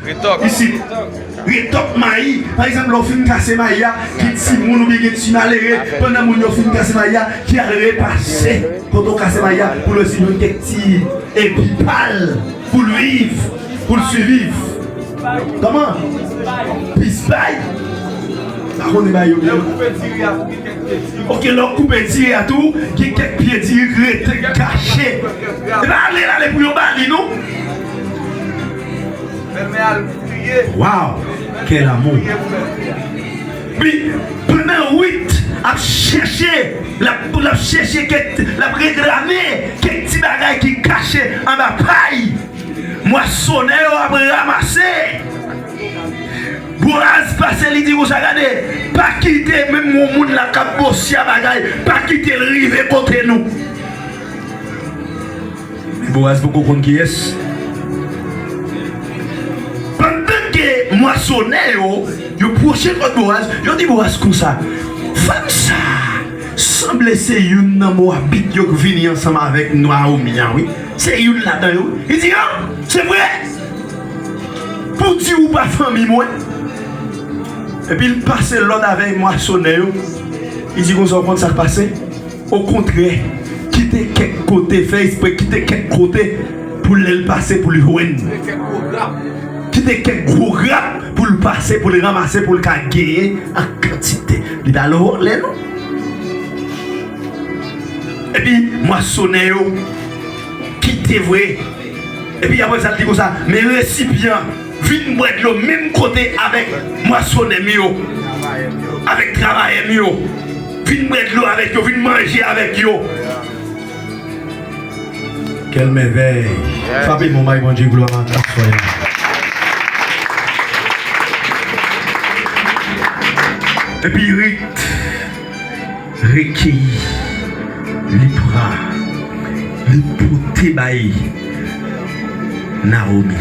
Retok. Isit. Retok mayi. Pa egzanp lè w fin kase mayi a, gen timoun oubyen gen ti malere, pandan moun yo fin kase mayi a, ki al repase kote w kase mayi a pou l wè si jwenn kèk ti epi pa l pou l viv, pou l siviv. Kòman? Plis bay. M pa konnen bay yo byen. Lè w koupe diri a tou gen kèk pye diri. Ok, lè w koupe diri a tou, gen kèk pye diri ki rete kache. E pa ale l ale pou yon bali non. Belmè al priye pou mwen. Pandan Ruth ap chèche, l ap chèche kèk, l ap reklame kèk ti bagay ki kache anba pay mwasonè yo ap ramase. Boaz pase li di konsa, Gade, pa kite menm yon moun la k ap bosya bagay, pa kite l rive kote nou. Boaz poko konn kiyès. Pandan ke mwasonè yo, yo pwoche kòt Boaz, yo di Boaz konsa, Fanm sa a sanble se youn nan Mowabit yo k vini ansanm avèk Nawomi an wi. Se youn ladan yo wi. Li di, An! Se vre? Pou di ou pa fanmi mwen? Epi l pase lòd avèk mwasonè yo, li di konsa, Ou konn sa k pase? Okontrè, kite kèk kote, fè espre kite kèk kote pou lè l pase pou l jwenn. Kite kèk gwo grap pou l pase, pou l ranmase, pou l ka genyen an kantite. Li pa lè vòlè non. Epi, mwasonè yo, kite vre. Epi apre sa l di konsa, Men resipyan. Vin bwè dlo menm kote avèk mwasonè m yo, avèk travayè m yo. Vin bwè dlo avèk yo, vin manje avèk yo. Quelle merveille! Frape bon bay Bondye glwa maten aswè a. Epi Rit. Rekeyi, li pran, li pote bay Nawomi.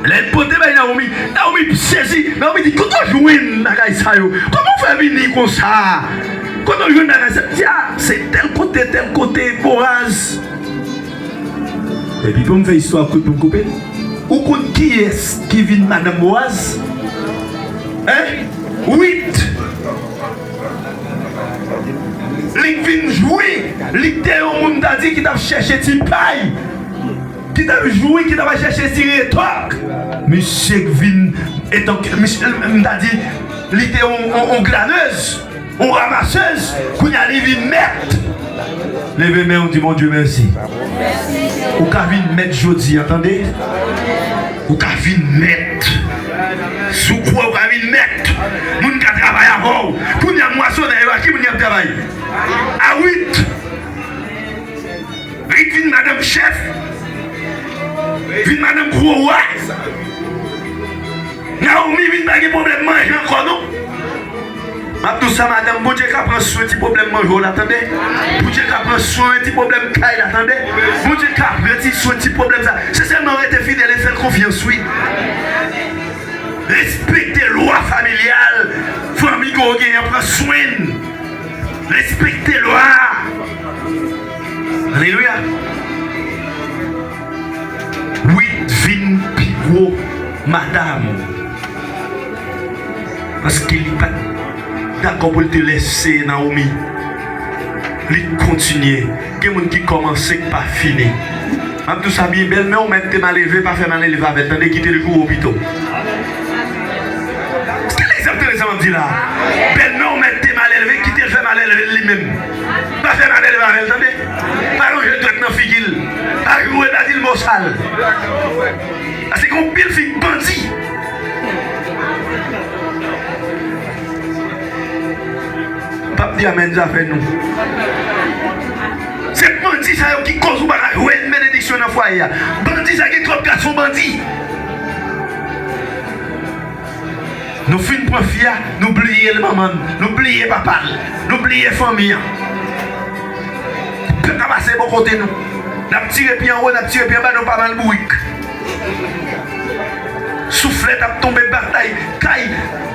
Lè l pote bay Nawomi, Nawomi sezi. Nawomi di, Kote w jwenn bagay sa yo? Kòman w fè vini konsa? Kote w jwenn bagay sa yo? Li di, A, se tèl kote, tèl kote, Boaz. Epi pou m fè istwa a kout, pou m koupe l, ou konn kiyès ki vin madanm Boaz? Hein? Ruth. Li k vin jwi, li k te yon moun ta di ki tap chèche ti pay, ki tap jwi, ki tap al chèche ti retòk. Misye k vin etan ke misye m ta di li te yon glanez, yon ramasez, kounye a li vin mèt. Leve menw di Bondye mèsi. Ou ka vin mèt jodi an tande. Ou ka vin mèt. Si w kwè ou ka vin mèt, moun ka travay avè w. Kounye a, mwasonè yo, ak ki moun y ap travay? A Rit. Rit vin madanm chèf, vin madanm gwo wa. Nawomi vin pa gen pwoblèm manje ankò non. Map diw sa madanm Bondye ka pran swen ti problèm manje w la tande Bondye ka pran swen ti problèm kay la tande Bondye ka pran ti swen ti problèm sa se sèlman rete fidèl e fèl konfyans wi respekte lwa familyal fanmi ke w gen an pran swen respekte lwa a alelouya. Wi vin pi gwo madam ou. Paske li pat dakò pou l te lèse Naomi li t kontinye gen moun ki kòmanse k pa fini map diw sa byen bèlmè w mèt te maleve pa fè malelve avèl tande kitel joure w pito Ske l egzantele sa map di la bèlmè w mèt te malelve kitel fè malelve l li menm. Pa fè mal elve avèl tande. Pa lonje dwèt nan figil. Pa joure pa dil mo sal. Pase gon pil fi bandi. Pap di amen zafè nou. Se bandi sa yo ki koz ou pa ka jwenn benediksyon nan fwaye a. Bandi sa gen trop gason bandi. Nou fin pran fi a nou bliye l manman l nou bliye papa l nou bliye fanmi an pèp la pase bò kote nou nap tire pi anwo nap tire pi anba nou pa mal bourik souflèt ap tonbe batay kay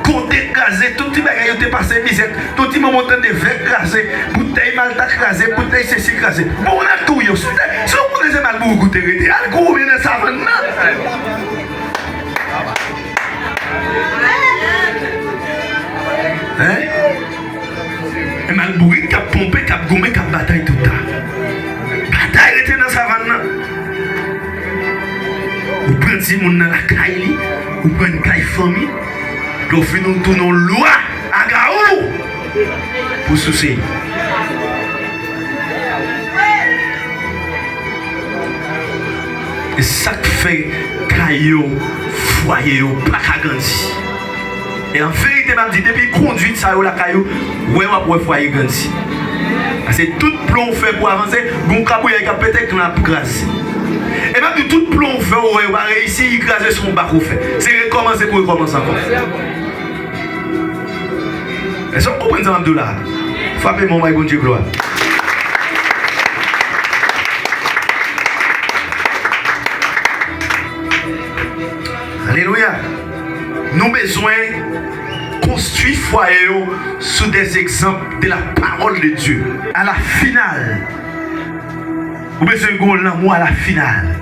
kote kraze tout ti bagay yo te pase mizè tout ti momo tande vè kraze boutèy malta kraze boutèy sesi kraze bon moun al touye yo sou tè si w konnen se mal bourik ou te rete al goumen nan savann nan. Hein? Mal bourik kap ponpe, kap goumen, kap batay tout tan. Batay rete nan savann nan. Ou pran timoun nan lakay li, ou pran n kay fanmi, lè w fini w tounen w lwa agaou pou souse li. E sak fè kay yo, fwaye yo paka grandi. E an verite map di depi kondwit sa yo lakay ou, wè wap wè fwaye grandi. Pase tout plan ou fè pou avanse, gon kabouyèy kap pete, klan ap kraze. E map di w tout plan ou fè ou wè yo pa reyisi, li kraze se yon bak ou fè. Se rekòmanse pou rekòmanse ankò. Èske nou konprann sa m ap di w la a? Frape men w bay Bondye glwa. Alelouya! Nou bezwen konstwi fwaye yo sou de egzanp de la pawòl de Dye. A la final, ou bezwen gen yon lanmou a la final.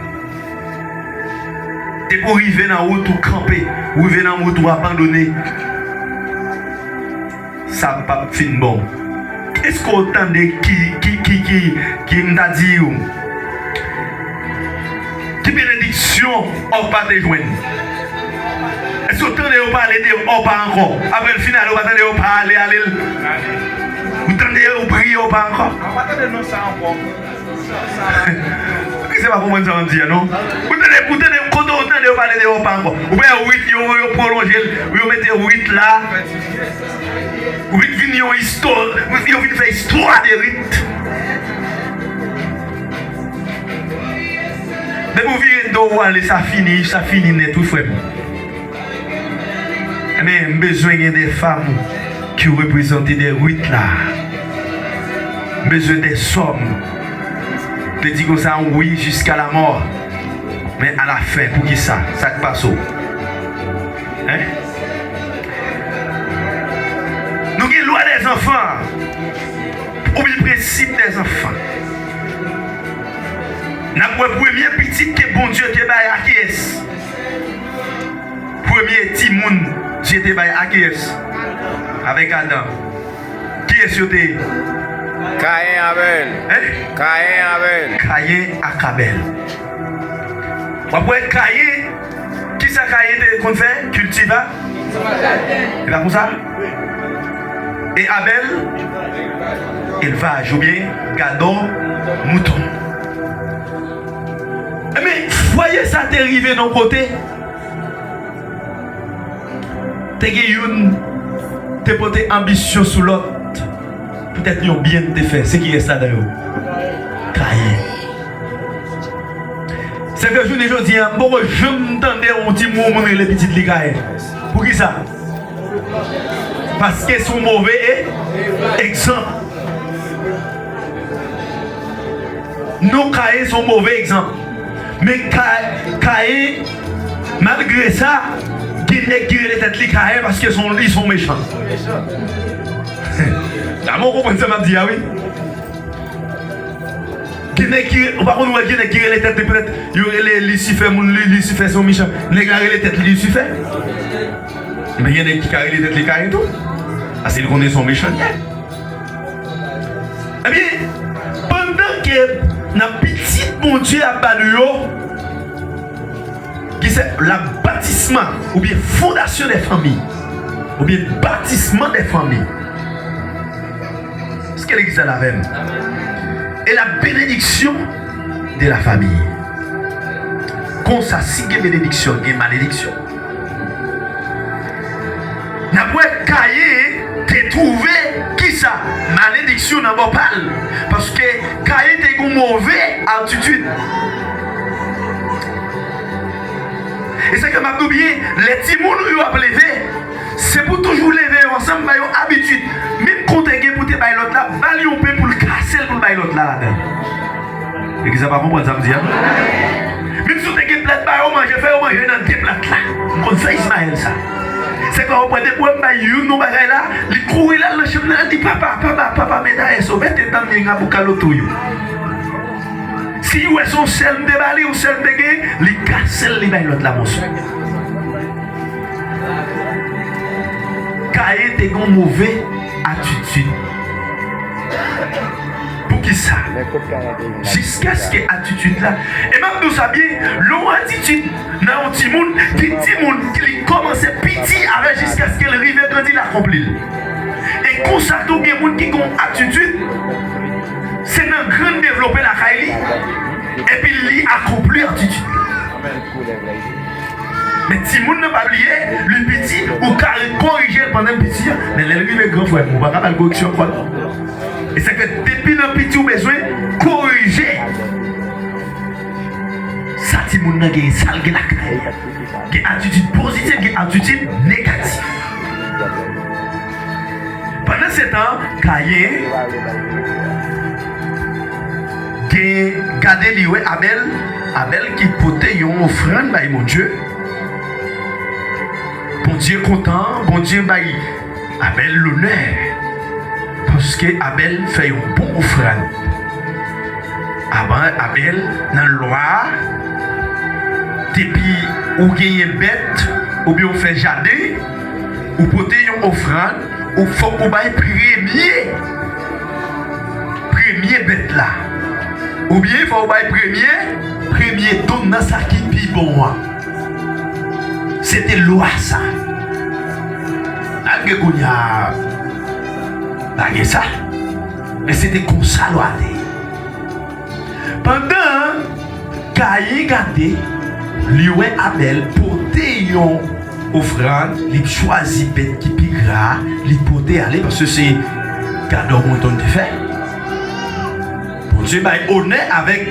Epi ou rive nan wout ou kanpe, ou rive nan wout ou abandone. Sa pap fin bon. Eske ou tande ki, ki m ta di ou, ki benediksyon Òpa te jwenn? Eske ou tande yo pale de Òpa ankò? Apre l fin ale ou pa tande yo pale ale l? Ou tande yo priye Òpa ankò? Pouki se pa konprann sa map di a non. Ou tande ou tande kote ou tande yo pale de opa ankò. Ou pa wè wid yo yo pwolonjel yo mete wid la. Wid vin yon isto yo vin fè istwa de wid. Depi ou vire do ou ale sa fini sa fini nèt wi frèm. Ebyen m bezwen gen de fam ki reprezante de Ruth la M bezwen de sòm te di konsa wi jiska lamò Men alafen poukisa sa k pase w Hein Nou gen lwa de zanfan oubyen prensip de zanfan N ap wè premye pitit ke Bondye te bay a kiyès? Premye timoun Dye te bay akiyès? Avèk Adan. Kiyès yo te ye? Kayen avèl. Kayen avèl. Kayen ak Abèl. Wap wè Kayen, kisa Kayen te konn fè? Kiltiva. Kiltiva jaden. E pa konsa? Wi. E Abèl? Elvaj. Elvaj oubyen gadò mouton. Enben, fwaye sa te rive nan yon kote, te gen youn te pote anbisyon sou lòt poutèt yon byen li te fè. Se kiyès ladan yo? Kayen. Se fè jounen jodi a, m poko janm tande yon timoun rele pitit li Kayen. Poukisa? Paske se yon move egzanp. Non Kayen se yon move egzanp. Men Kayen malgre sa gen nèg ki rele tèt li Kayen paske son li son mechan. Dame ou konprann sa map di a wi. Gen nèg ki ou pa konn wè gen nèg ki rele tèt li petèt yo rele lisifè moun li lisifè se yon mechan. Nèg la rele tèt li lisifè. Men gen nèg ki ka rele tèt li Kayen tou. Paske li konnen son mechan li ye. Ebyen, pandan ke nan pitit Bondye ap ba nou yo, ki se la batisma oubyen fondasyon de fanmi, oubyen batisman de fanmi, eske legliz la la avèm? E la benediksyon de la famiy. Konsa si gen benediksyon gen malediksyon. N ap wè Kayen te twouve kisa? Malediksyon nan bò pa l. Paske Kayen te gen yon move atitid. E sa k fè m ap di w byen, lè timoun ou yo ap leve, se pou w toujou leve yo ansanm, ba yo abitid. Menm konte gen pou w te bay lòt la, ba l yon pen pou l kase l pou l bay lòt la ladan l. Legliz la pa konprann sa m di a non. Menm si w te gen plat ba yo manje, fè yo manje nan de plat la. M konn sa Ismael sa. Se pa yo pran de pwèm bay youn nou bagay la, li kouri l al nan chanm nan al di papa, papa, papa me da eso, vete nan mien a buca lo tuyo. Si li wè se yon sèl m te ba li, yon sèl m te gen, li kase l li bay lòt la moso. Kayen te gen yon move atitid. Poukisa? Jiskaske atitid la e m ap di w sa byen, lè yon atitid nan yon timoun, gen timoun ki li kòmanse piti avè jiskaske l rive grandi l akonpli l. E konsa tou gen moun ki gen yon atitid se nan grann l devlope lakay li epi li akonpli atitid li. Men timoun nan pa bliye li piti ou ka korije l pandan l piti men lè l rive gran frè m ou pa ka ba l koreksyon ankò non. E sa k fè depi nan piti ou bezwen korije sa timoun nan genyen, sa l gen lakay li. Gen atitid pozitif, gen atitid negatif. Pandansetan, Kayen genyen gade li wè Abèl, Abèl ki pote yon ofrann bay Bondye. Bondye kontan, Bondye bay. Abèl lonè, paske Abèl fè yon bon ofrann. Avan Abèl, nan Lwa a, depi ou genyen bèt oubyen ou fè jaden, ou pote yon ofrann, ou fòk ou bay premye, premye bèt la. Oubyen fòk ou bay premye, premye don nan sa ki pi bon an. Se te lwa sa. Malgre kounya pa gen sa, men se te konsa lwa te ye. Pandan Kayin gade, li wè Abèl pote yon ofrann, li chwazi bèt ki pi gra a, li pote ale paske se gadò mouton li te fè. Bondye bay onè avèk.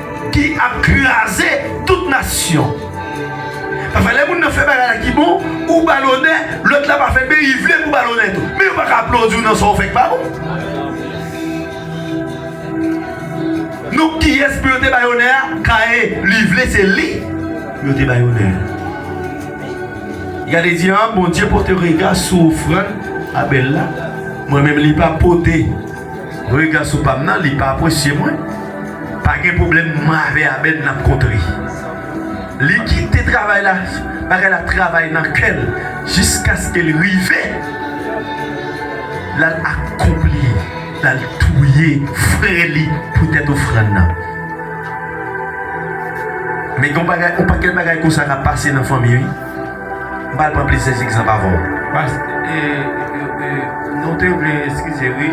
Ki ap kraze tout nasyon. Pafè lè moun nan fè bagay la ki bon ou bal onè lòt la pa fè men li vle pou bal onè tou men yo paka aplodiw nan sa ou fè ki pa bon non kiyès pou yo te bay onè a kaye li vle se li pou yo te bay onè li gade di an Bondye pote rega sou ofrann Abèl la mwen menm li pa pote. Rega sou pam nan li pa apresye mwen pa gen problèm mwen avè Abed nap kontre li kite travay la bagay la travay nan kèl jiskaske li rive lal akonpli lal touye frè li poutèt ofrann nan men gon bagay on pakèt bagay konsa kap pase nan fanmi wi. M pral pran plizyè egzanp avè w. Past. Nou te vle eskize wi.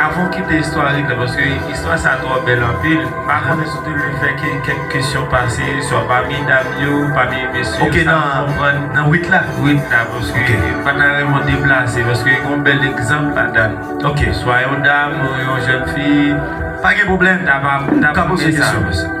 Avan w kite istorik la paske istwa sa twò bèl anpil. M pa konnen si w te vle fè kèk kesyon pase swa pami dam yo, pami mesye yo sa m konprann. Ok nan 8 la? 8 la paske m pa ta renmen w deplase paske gen yon bèl egzanp ladann. Ok. Swa yon dam ou yon jèn fi. Pa gen pwoblèm. M ta pa. M ka poze kesyon.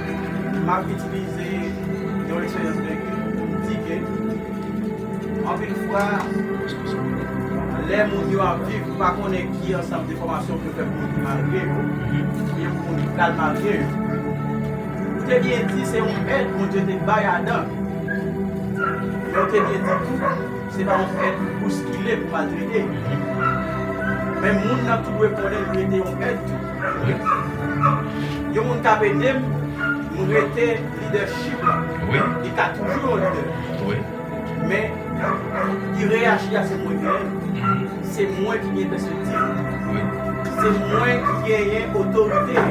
M ap itilize yon eksperyans vèki pou m di ke anpil fwa lè moun yo ap viv yo pa konnen ki ansanm de fòmasyon pou yo fè pou moun ki marye yo oubyen pou moun ki pral marye yo. Ou te byen di se yon èd Bondye te bay Adan. Men ou te byen di tou se pa yon èd pou bouskile, pou maltrete. Men moun nan tou dwe konnen li rete yon èd tou. Yon moun kap edem m rete leadership la li ka toujou yon leader men li reyaji a se mwen genyen se mwen ki gen pèspektiv se mwen ki genyen otorite a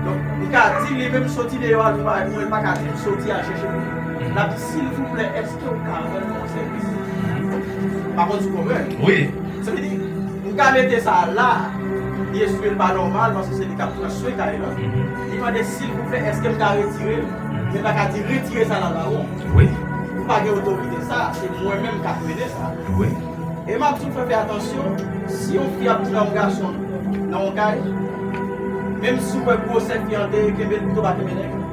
donk m ka di li menm soti deyò al vin pale pou mwen li paka di m soti al chèche pou mwen lap di silvouplè èske ou ka rann mwen yon sèvis m pa konn si w konprann sa vle di Nou ka mete sa la a. Li eswil pa nòmal paske se li kap pran swen kay lan. Li mande silvouplè eskem ka retirel? Li paka di retire sa la ba ou. Wi. Ou pa gen otorite sa a. Se mwen menm kap mennen sa. Wi. E map di ou fè atansyon si yon fi ap pran yon gason nan yon kay menm si ou wè gwosè fi an deye kenbel pito pa kenbe nèg lan.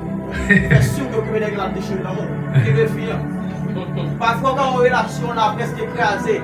Fè siw ke ou kenbe nèg lan ap dechire nan menw. Kenbe fi an. Pafwa ou ka yon relasyon la preske kraze.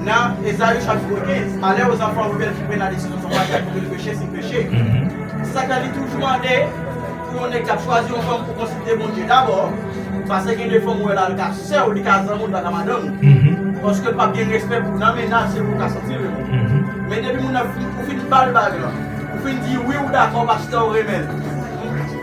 Nan Esaïe chapitro 15, Malè o zanfan rebèl ki pran la desizyon sou maryaj pou yo peche, si peche. Se sa k fè li toujou mande pou yon nèg k ap chwazi yon fanm pou konsilte Bondye dabò, pase gen de fanm ou wè la li ka sè w, li ka zanmi w, li pa ka madanm ou. Paske l pap gen respè pou nan mennaj se pou l ka santi l renmen. Men depi moun nan fin ou fin bal bagy lan, ou fin di wi ou dakò paske w renmen l.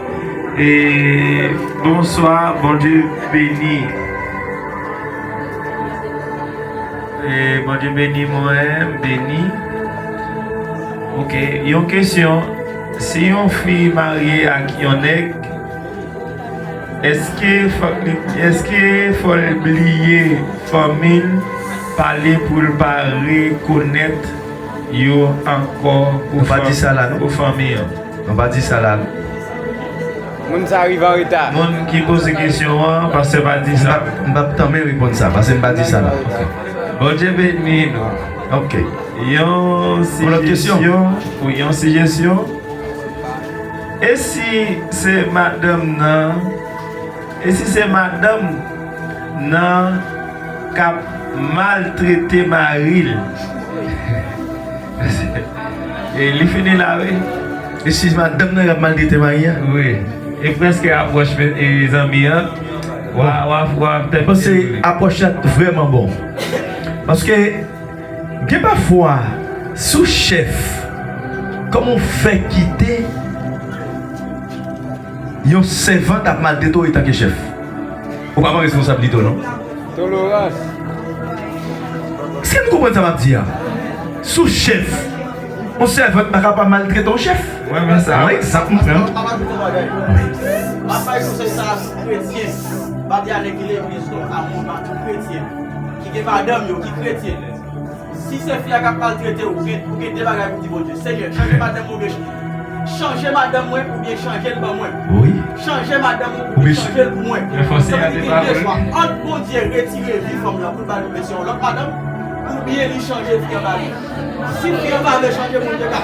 Bonswa bondye beni bondye beni mwen m beni ok yon kesyon si yon fi marye ak yon nèg eske eske fòl bliye fanmil pale poul pa rekonèt yo ankò pou fanmi an. Nou pa di sa la. Moun sa rive an reta. Moun ki poze kesyon an, pastè pa di sa. M pap tanmen reponn sa, pase m pa di sa la. Bondye beni nou. Ok. Yon sijesyon pou yon sijesyon. E si se madanm nan, e si se madanm nan kap maltrete maril? E li fini la wi. Eskiz madanm nan kap maltrete mari a. Wi e preske apwoch zanmi an wap tèt pase wi. Apwoch la t vreman bon. Paske gen pafwa si w chèf kòman w fè kite yon sèvant ap maltrete w etanke chèf. Ou pa pran responsablite w non. Tolorans! Si m konprann sa map di a, sou chèf, yon sèvant pa ka pa maltrete yon chèf. Yon egzanp m pran. Si se fi a kap maltrete w ret ou gen 2 bagay pou di Bondye Senyè chanje madanm mwen oubyen chanje madanm mwen oubyen chanje l ban mwen chanje madanm ou oubyen chanje l pou mwen sa vle di gen 2 chwa ant Bondye retire vi fanm lan poul bal oubyen se yon lòt madanm oubyen li chanje fi an ba li si fi an pa vle chanje Bondye ka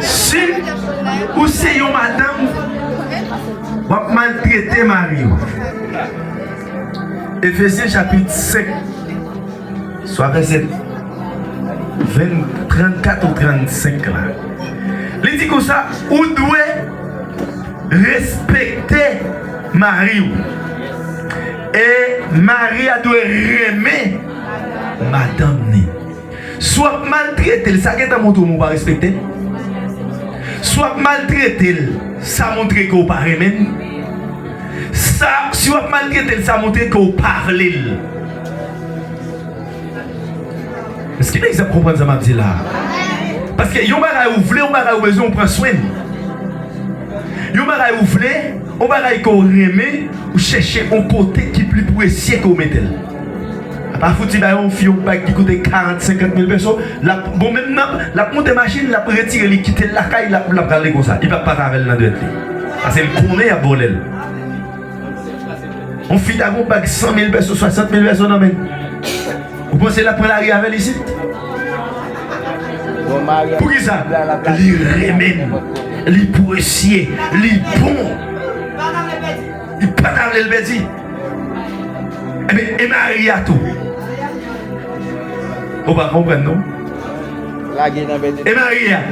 Si ou se yon madanm wap maltrete mariw. Efesyen chapit 5 swa vèsè 34 ou 35 la li di konsa ou dwe respekte mariw e mari a dwe renmen madanm ni. Si w ap maltrete l, sa gentan montre w ou pa respekte l. Si w ap maltrete l, sa montre ke w pa renmen l. Sa, si w ap maltrete l, sa montre ke w pa vle l. Èske lèzè ap konprann sa m ap di la a? Paske yon bagay ou vle, yon bagay ou bezwen, ou pran swen li. Yon bagay ou vle, yon bagay ke w renmen, ou chèche yon kote ki pli presye ke w mete l. Pa fouti bay yon fi yon bag ki koute 40, 50 mil peso, lap, bon menm nan, lap moute machin, lap retire li kite l lakay, lap rale konsa. Li pap pase avè l nan dwèt li. Pase l konnen yap vòlè l. Yon fi ta gen yon bag 100 mil peso, 60 mil peso nan men l. Ou panse lap pran lari avè l isit? Poukisa? Li renmen l. Li presye. Li bon. Li pata vle l pèdi. Enben, e mari a tou? Ou pa konprann non. E mari a?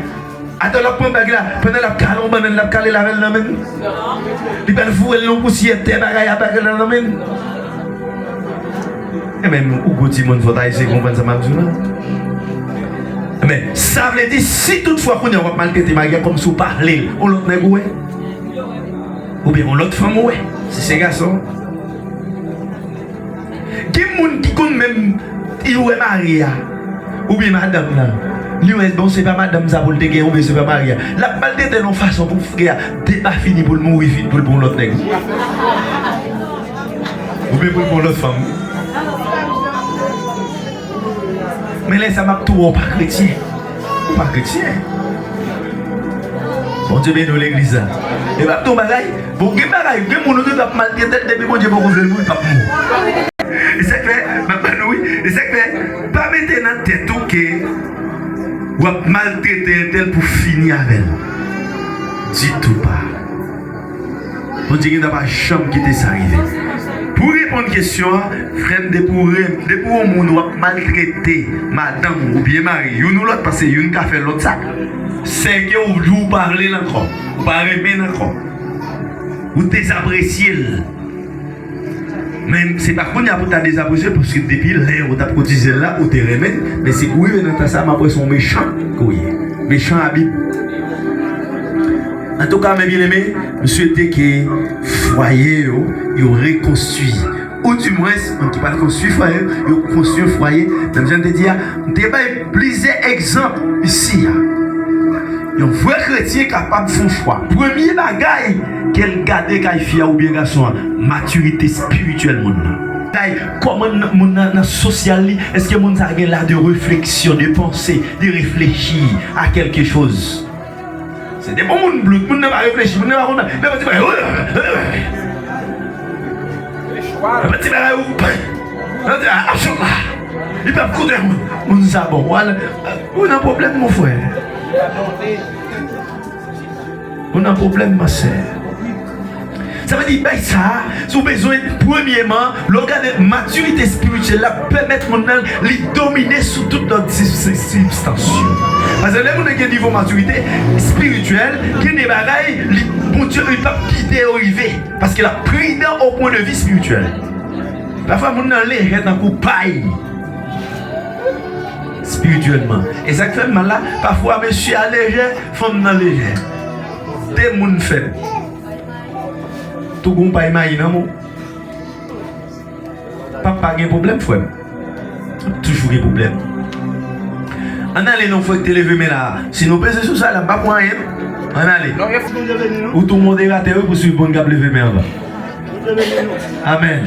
Atan l ap pran bag la, pandan l ap kale yon bannann, l ap kale l avè l nan men l? Li pral foure l nan yon pousyè tè bagay ap avè l nan men l? Enben, ou gwo timoun, fò w ta eseye konprann sa m ap di w la. Enben, sa vle di, si toutfwa kounye a w ap maltrete mari a kòmsi w pa vle l, yon lòt nèg ou wè? Ou byen on lot fanm ou we. Si se gason. Gen moun ki konn menm li we mari a ou byen madanm nan li we bon se pa madanm sa poul te gen ou byen se pa mari a lap maltretel yon fason pou frè a depafini poul mouri vit poul pran yon lot neg ou byen poul pran yon lot fanm. Men lè sa map tou wè w pa kretyen Ou pa kretyen Bondye beni w legliz la E map di w yon bagay Bon gen bagay gen moun ou gen dwa ap maltrete l depi Bondye poko vle l pou l pap mouri E sa k fè map ba nou wi E sa k fè pa mete nan tèt ou ke Wap maltrete entèl pou fini avè l Ditou pa Bondye gentan pa janm kite sa rive. Pou reponn kesyon an frèm depi ou renm depi ou moun wap maltrete madanm ou oubyen mari youn ou lòt pase youn ka fè lòt sa sèke ou di ou pa vlel ankò ou pa renmenn ankò ou dezapresyel Men se pa kounya pou ta dezapresye paske depi lè ou tap kotizel la ou te renmen men se pou rive nan tan sa map wè son mechan ke w ye mechan a bib antouka mes bien aime m swete ke fwaye yo yo rekonstwi ou di mwens moun ki pral konstwi fwaye yo konstwi yon fwaye menm jan m te di a m te bay Plizyè egzanp isi a. Yon vrè kretyen kapab fon fwa. Premye bagay ke l gade kay fi a oubyen gason an, matirite espirityèl moun nan. Kay, kòman moun nan nan sosyal li, eske moun sa gen la de refleksyon, de panse, de reflechi a kèlke choz. Se te bon moun blout, moun nan pa reflechi, moun nan pa konn bagay, nan fè ti bagay, wouy! Nan fè ti bagay ou pwen! Nan di a, ap sot la! Li pap koute moun! Moun sa bon, wal, ou nan pwoblèm mon frè! Ou nan pwoblèm ma sè! Sa vle di bay sa a se yon bezwen premyeman. Lè w gade matirite espirityèl la pèmèt moun nan li domine sou tout lòt sibstans yo. Paske lè moun nan gen nivo matirite espirityèl, gen de bagay li Bondye li pap kite yo rive paske l ap pridan o pwen de vi espirityèl. Pafwa moun nan lejè tankou pay espirityèlman. E sa k fè l mal la, pafwa mesye a lejè, fanm nan lejè. 2 moun fèl tougoun pay mayi nan mou papa gen problem frèm ap toujou gen problem ann ale non fòk te leve men la si nou peze sou sa la m pap wè anyen non ann ale ou tou moderatè wi pou swiv moun kap leve men anvan amen.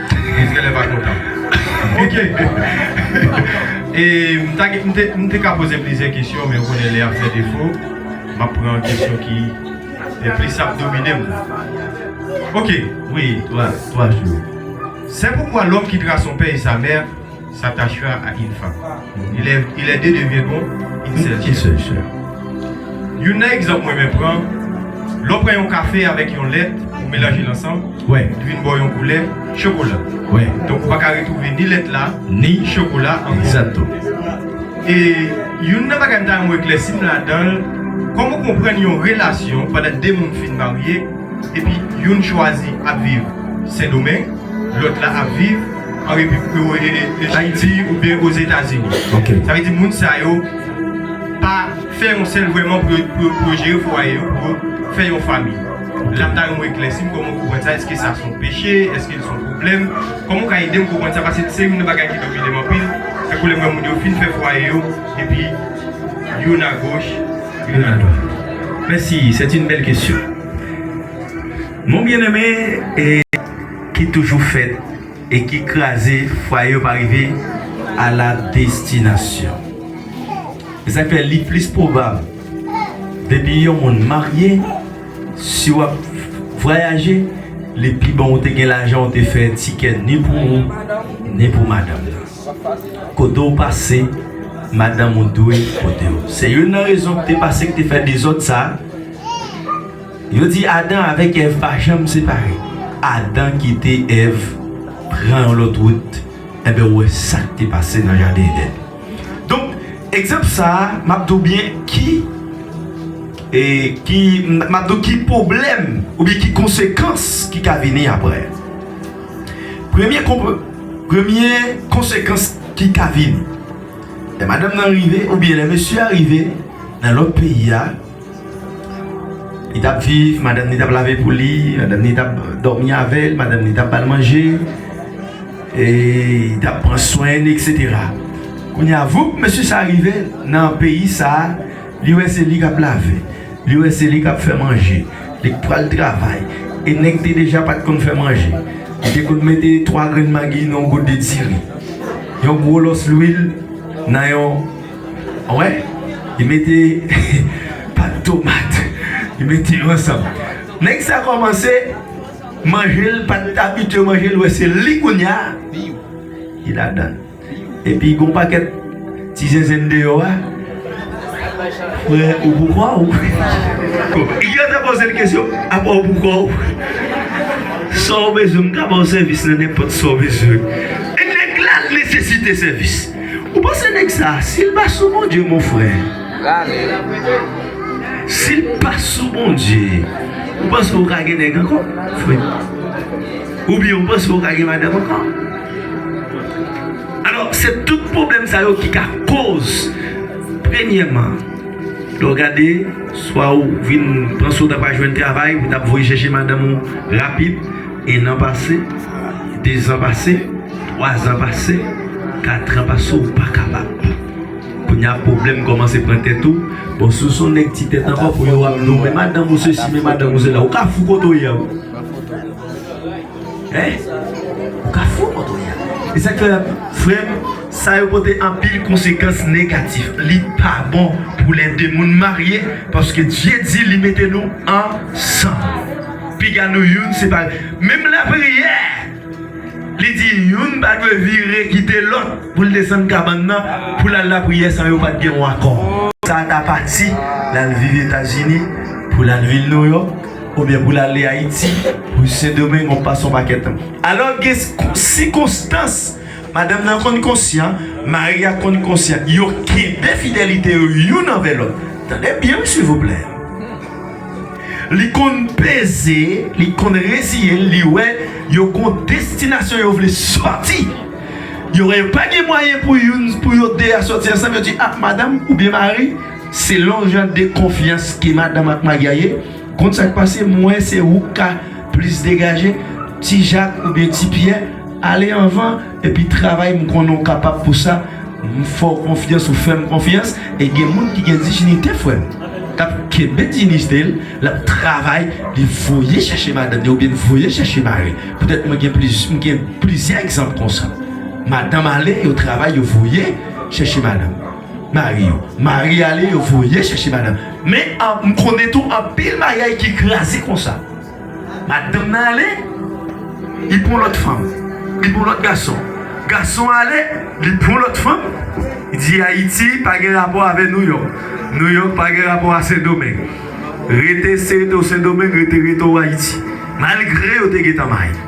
Eske lè pa kontan? Ok! M te ka poze plizyè kesyon, men ou konnen lè ap fè defo, m ap pran kesyon ki plis ap domine m. Ok! Wi, 3 jou. Sè poukwa lòm ki tra son pè e sa mè. s'attachera à une femme. Et les deux deviendront une seule chair. Youn nan egzanp mwen renmen pran, lè w pran yon kafe avèk yon lèt, ou melanje l ansanm, li vin ba w yon koulè chokola. Donk ou pa ka retwouve ni lèt la, ni chokola an miyò. E youn nan bagay m ta renmen w eklèsi m ladan l, kòman w konprann yon relasyon pandan de moun fin marye epi youn chwazi ap viv Sendomeng, lòt la ap viv. an repib yo e e ayiti ou byen o zetazini ok sa vle di moun sa yo pa fè yon sèl vwèman pou yo pou yo pou yo jere fwaye yo pou yo fè yon fanmi la m ta renmen w eklèsi kòman w konprann sa èske sa s on peche èske l s on pwoblèm kòman w ka ede m konprann sa pase se youn nan bagay ki domine m anpil se kou lè m wè moun yo fin fè fwaye yo epi youn a goch youn a dwat mèsi sèt yn bèl kesyon mon byeneme e ki toujou fèt e ki kraze fwaye yo pa rive a la destinasyon. Se sa k fè li plis pwobab depi yon moun marye, si w ap vwayaje, li pi bon ou te gen lajan ou te fè tikè ni pou ou, ni pou madanm nan. Kote w pase, madanm ou dwe pote w. Se youn nan rezon ki te pase ki te fè dezòd sa a. Yo di Adan avèk Èv pa janm separe. Adan kite Èv pran yon lòt wout, enben ou wè sa k te pase nan jaden Edenn. Donk, egzanp sa a, m ap di w byen ki, ki, m ap di w ki pwoblèm oubyen ki konsekans ki ka vini apre. Premye konp, premye konsekans ki ka vini, lè madanm nan rive oubyen lè mesye a rive nan lòt peyi a, Li t ap viv, madanm ni t ap lave pou li, madanm ni t ap dòmi avè l, madanm ni t ap ba l manje, e li t ap pran swen l, eksetera. Kounye a, voup! Mesye sa a rive nan peyi sa a, li wè se li k ap lave, li wè se li k ap fè manje, li k pral travay. E nèg te deja pa t konn fè manje. Li te konn mete twa grenn magi nan yon gode diri, yon gwo lòs lwil nan yon. Wè, li mete pat tomat, li mete yo ansanm. Nèg sa kòmanse manje l, pa t abitye manje l, wè se li kounye a, li ladan l. Epi gon pakèt ti zenzenn deyò a, frè ou poukò ou? Yo te poze l kesyon, apa ou poukò ou? Sa ou bezwen, m ka ba ou sèvis nan nenpòt sa ou bezwen. Nèg la nesesite sèvis. Ou panse neg sa sil pa sou bondye mon frère sil pa sou bondye ou panse ou ka gen neg anko frère ou byen ou panse ou ka gen madanm anko alò se tout problem sa yo ki ka koz premyeman lè ou gade swa ou vin panse ou ta pa jwenn travay ou tap voye chèche madanm ou rapid. Ennan pase, dezan pase, twazan pase, katran pase ou pa kapab. Kounya pwoblèm kòmanse pran tèt ou, bon si w son nèg ti tèt ankò pou yo ap di w men madanm ou sesi men madanm ou sela ou ka fou kote w ye a wi. Hein! Ou ka fou kote w ye a. E sa k fè frè m sa yo pote anpil konsekans negatif. Li pa bon pou lè 2 moun marye paske Dye di li mete nou ansanm. Piga nou youn separe. Menm lapriyè, li di youn pa dwe vire kite lòt pou l desann kabann nan pou l al lapriyè san yo pa t gen yon akò. Sa a ta pati, l al viv Etazini, pou l al vil Nouyòk, oubyen pou l ale Ayiti, pou Sendomeng, on pase on pakèt tan. Alò gen sikonstans, madanm nan konn konsyan, mari a konn konsyan, yo kenbe fidelite yo youn anvè lòt. Tande byen wi silvouplè. Li konn peze, li konn reziye l, li wè yo gon destinasyon yo vle sòti. Yo wè yo pa gen mwayen pou youn, pou yo de a sòti ansanm, yo di a madanm oubyen mari, selon jan de konfyans ke madanm ak mari a ye, konn sa k pase, m wè se ou k ka plis degaje, ti Jak oubyen ti Pyè ale anvan. Epi travay m konnen w kapab pou sa m fè w konfyans ou fè m konfyans e gen moun ki gen dijinite frè m kap kenbe dijinite l lap travay li voye chèche madanm li oubyen li voye chèche mari l petèt mwen gen plizyè egzanp konsa madanm ale yo travay yo voye chèche madanm mari yo mari ale yo voye chèche madanm men m konnen tou anpil maryaj ki kraze konsa. Madanm nan ale, li pran yon lòt fanm, li pran yon lòt gason. Gason an ale, li pran yon lòt fanm, li di Ayiti pa gen rapò avè Nouyòk, Nouyòk pa gen rapò a Sendomeng. Rete se rete w Sendomeng, rete rete w Ayiti. Malgre yo te gen tan mayi.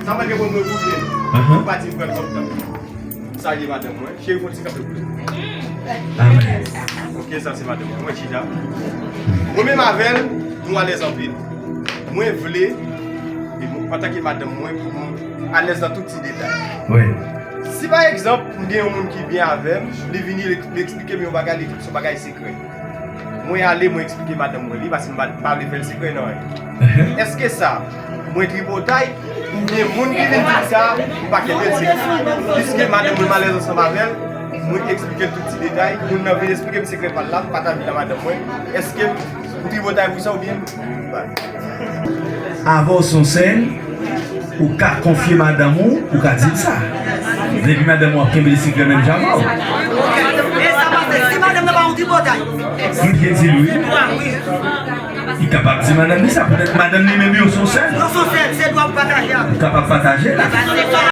Sa mwen gen pou mwen pou vye m pou pati m pran kòm tanm m salye madanm mwen cheri fon ti kafe pou nou ok sa se madanm mwen mwen chita mwen menm avèl nou alèz anpil mwen vle antake madanm mwen pou nou alèz nan tout ti detay si pa egzanp m gen yon moun ki byen avèm li vini li eksplike m yon bagay li di m son bagay sekrè. Mwen ale mwen eksplike madanm mwen li paske m pa vle fè l sekrè nan anyen. Eske sa mwen tripotay oubyen moun ki vin di m sa m pa kenbe l sekrè? Piske madanm mwen malèz ansanm avè l, mwen eksplike l tout ti detay, moun nan vin eksplike m sekrè pa l la, m pataje l a madanm mwen, eske m tripotay pou sa oubyen? Avan w son sèn, ou ka konfye madanm ou, ou ka di l sa. Depi madanm ou ap kenbe l sikrè menm jan avè w. Li byen di l wi. Li kapab di madanm li sa poutèt madanm li menm yo son sèn. Ou kapab pataje l ak li.